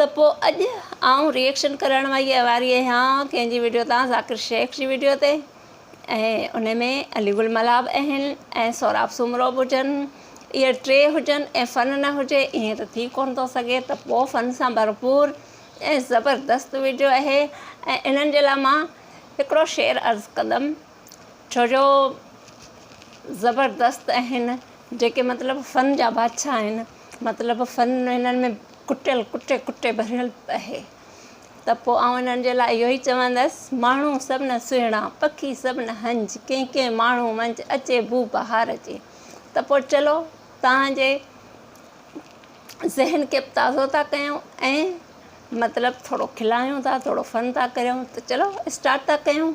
ته پوء اڄ آئون ريئڪشن ڪرڻ وئي واري اهيان ڪنهن جي وڊيو تان ذاڪر شيخ جي وڊيو تي ۽ ان ۾ علي گل ملاح به اهن ۽ سهراب سومرو به هجن اهي ٽي هجن ۽ فن نه هجي ائين ته ٿي ڪونه ٿو سگهي ته پوء فن سان ڀرپور ۽ زبردست وڊيو اهي ۽ انهن جي لاء مان هڪڙو شعر عرض ڪندم ڇو جو زبردست اهن جيڪي مطلب فن جا بادشاهه آهن مطلب فن هنن ۾ ڪٽيل ڪٽي ڪٽي ڀريل اهي ته پوء آئون انهن جي لاء اهو ئي چوندس، ماڻهو سڀنه سهڻا، پکي سڀنه هنج، ڪنهن ڪنهن ماڻهو منجهه اچي بوء بهار جي. ته پوء چلو توهان جي ذهن کي به تازو ٿا ڪيون ۽ مطلب ٿورو کلائيون ٿا، ٿورو فن ٿا ڪريون ته چلو اسٽارٽ ٿا ڪيون.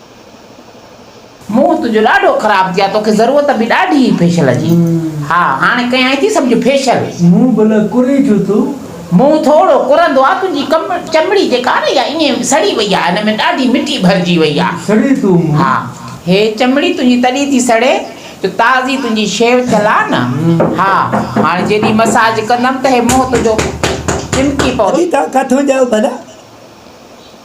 منهن تنهنجو ڏاڍو خراب ٿي آ توکي ضرورت به ڏاڍي هئي فيشل جي ها هاڻي ڪيائين ٿي سمجهه فيشل. منهن ڀلا ڪرين ڇو ٿو؟ منهن ٿورو ڪرندو آ تنهنجي چمڙي جيڪا آ نه اها ائين سڙي وئي آ ان ۾ ڏاڍي مٽي ڀرجي وئي آ. سڙي ٿو منهن. ها هي چمڙي تنهنجي تڏهن ٿي سڙي جو تازي تنهنجي شيو ٿيل آ نه ها هاڻي جيڏي مساج ڪندم ته هي منهن تنهنجو چمڪي پوندو. ڪٿي ٿا ڪٿون ڄائو ڀلا؟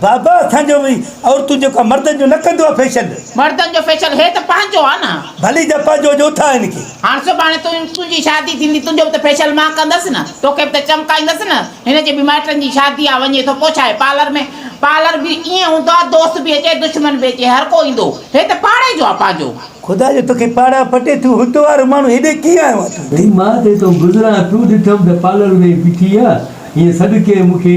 بابا اسان جو به عورتون جو ڪا مردن جو نه ڪندو آ فيشل. مردن جو فيشل هي ته پنهنجو آ نه. ڀلي جپا جو جو اٿا هن کي. هاڻ سڀاڻي تنهنجي شادي ٿيندي تنهنجو به ته فيشل مان ڪندس نه توکي به ته چمڪائيندس نه هن جي به مائٽن جي شادي آ وڃي ٿو پوء ڇاهي پارلر ۾ پارلر به ائين هوندو آ دوست به اچي دشمن به اچي هر ڪو ايندو هي ته پاڙي جو آ پنهنجو. خدا جو توکي پاڙا پٽي ٿيون هت وارو ماڻهو هيڏي ڪيئن آيو آ تون هتي. هي مان تي تون گذران ٿيون ڏٺم ته پارلر ۾ ئي بيٺي آ هيء سڏڪي مون کي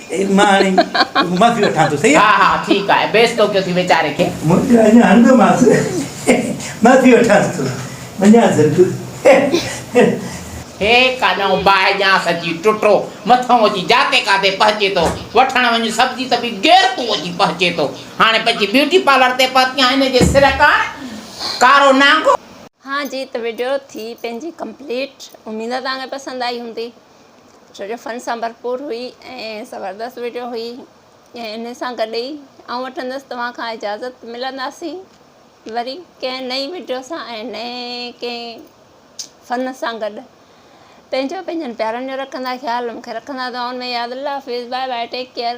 مان هاڻي معافي وٺان ٿو صحيح ها ها ٺيڪ آهي بيس تو ڪيو ٿي ويچاري کي. منهنجي اڃا هڻندو ماس معافي وٺانس ٿو وڃان سرڪو. هي ڪاڏانهون باهه ڄانس اچي ٽٽو مٿئون اچي جاتي ڪاتي پهچي ٿو وٺڻ وڃ سبزي ته به غير تون اچي پهچي ٿو هاڻي پنهنجي بيوٽي پارلر تي پهتي آهين هن جي سر ڪاڻ ڪارو نانگو. ها جي ته وڊيو ٿي پنهنجي ڪمپليٽ اميد توهان کي پسند آئي هوندي. ڇو جو فن سان ڀرپور هئي ۽ زبردست وڊيو هئي ۽ ان سان گڏ ئي آئون وٺندس توهان کان اجازت ملنداسين وري ڪنهن نئين وڊيو سان ۽ نئين ڪنهن فن سان گڏ پنهنجو پنهنجن پيارن جو رکندا خيال مونکي رکندا دعائن ۾ ياد الله حافظ بائي بائي ٽيڪ ڪيئر